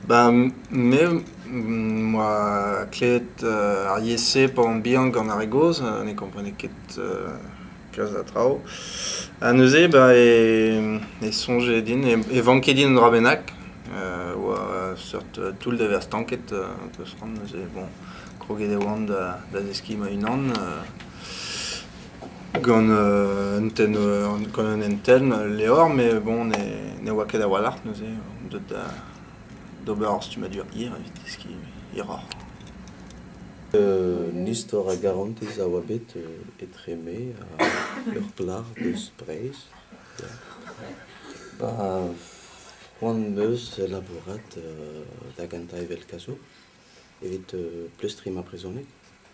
Bah me 'moa klevet ar yezh-se paour bihan gant ar re gozh, ne komprenez ket kalz a traoù. Ha neuze bah e soñje din, e vanke din un dra bennak, e oa seurt toull da vezañ stanket, peus c'hoant neuze, bon, kroget e oan da zeskiñ ma-unan. Gant un hentenn levr met bon ne oa ket a-walc'h neuze on deuet d'ober ur stummadur hir evit deskiñ hiroc'h. Un istor a garantez a oa bet etre me ha ur plac'h eus Breizh. Ba c'hoant 'm eus labourat da gentañ evel kazour evit pleustriñ ma brezhoneg.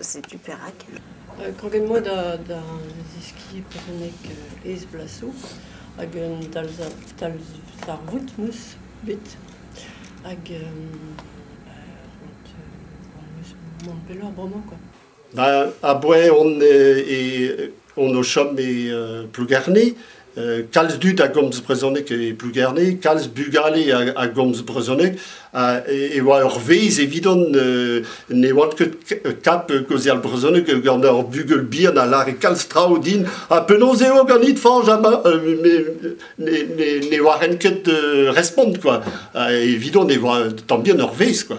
Setu perak. Kroget 'moa da da zeskiñ brezhoneg aes-blasoù hag un talzarvoud 'meus bet hag mont pelloc'h bremañ kwa. A-bouez on e on o chom e euh, Plougerne. Euh, kalz dud a gomz brezhoneg e Plougerne, kalz bugale a, gomz brezhoneg. e, oa ur vezh evidon euh, ne oant ket kap gaozeal brezhoneg gant ur bugel bihan a lare kalz traoù din. Ha penaos eo ganit, Fange, ne, ne, ket respont, quoi. evidon e oa tant bien ur vezh, quoi.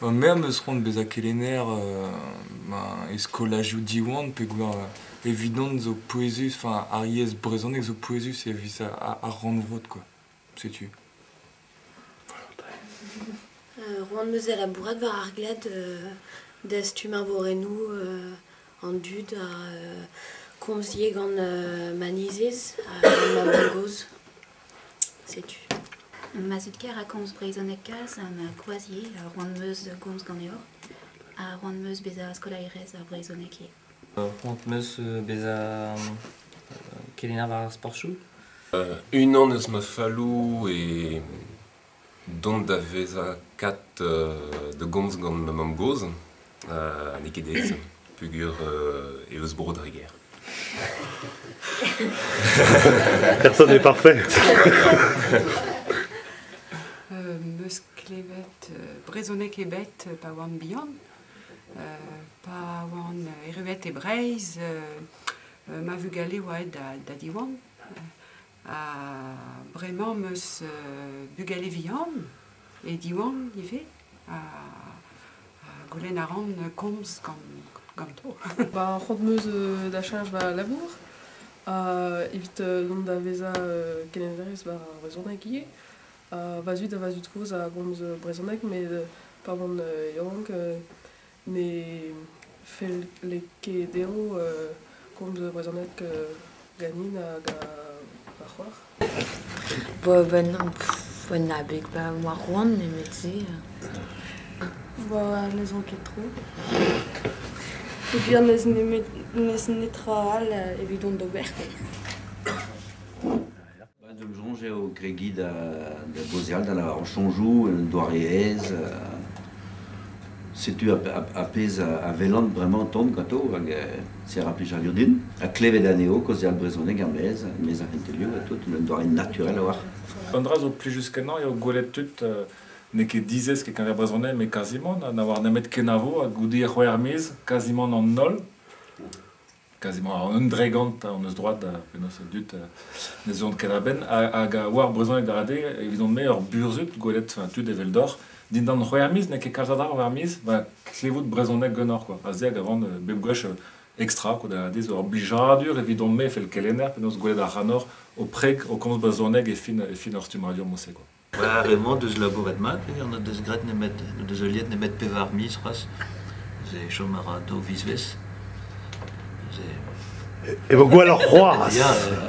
Ma mère 'm eus c'hoant bezañ kelenner ma e skolajoù Diwan peogwir evidon zo pouezus, enfin ar yezh brezhonek zo pouezus evit ar rannvro quoi, setu. Roan-Mezel labourat war ar glad dastum arvorennoù an dud ha komziñ gant ma nizez ha gant ma mamm-gozh. Setu. Ma zud kaer a komz brezhoneg kalz ha ma kroazier a roan 'm eus gomz ganeoc'h a roan 'm eus bezañ skolaerez ar brezhoneg ivez. C'hoant 'm eus bezañ kelenner war ar sportoù. Unan eus ma falloù eo Dont da vezañ kat da gomz gant ma mamm-gozh. n'eo ket aes peogwir eh eus bro dre gêr. Personne n'est parfait. Em eus klevet brezhoneg ebet pa oan bihan, pa oan erruet e Breizh, ma vugale 'oa aet da Diwan. Ha bremañ 'm eus bugale vihan, e Diwan ivez, ha goulenn a ran komz ganto. Ba c'hoant 'm eus da cheñch va labour evit dont da vezañ kelennerez war ar brezhoneg ivez. Va zud ha va zud kozh a gomz brezhoneg met pa oan yaouank Ne felle ket dezho komz brezhoneg ganin hag va c'hoar. Un abeg pa oa c'hoant nemet-se. Ne zon ket tro. Evit n'eus netra all evidon d'ober. Bah, donc soñj eo kregiñ da, da gaozeal, da lavarout soñjoù en un doare aes. euh, setu ar, ar, ar pezh a, a welan bremañ o tont ganto, hag euh, c'est ra plijadur din. Ha klevet anezho kaozeal brezhoneg er-maez, mes ar c'hentelioù ha tout, en un doare naturel a-walc'h. Un dra zo plijus-kenañ eo gwelet tud euh, n'eo ket dizesk e-keñver brezhoneg, mais kazimant, ha na oar nemet kenavo, ha goude c'hwec'h miz, kazimant an holl. Kazi-mañ un dregont hon eus droad, penaos a dud ne zeuont ket a-benn. Hag war brezhoneg darade, evidon-me, ur burzhud gwelet tud eveldoc'h, dindan c'hwec'h miz, n'eo ket kalz a dra war ar miz, ba klevout brezhoneg ganeoc'h kwa. Ha se hag a van bep gwech extra quoi, da dizh ur blijadur evidon-me, fel kelenner, penaos gwelet a ranoc'h ho preg, ho komz brezhoneg e fin e fin hor stummadur mod-se quoi. War ar re-mañ 'deus labouret mat, eh, n'o deus graet nemet n'o deus heuliet nemet pevar miz c'hoazh. Ze chom a ra daou vizvezh. Ze... E vo gwelloc'h c'hoazh! Ya, ya.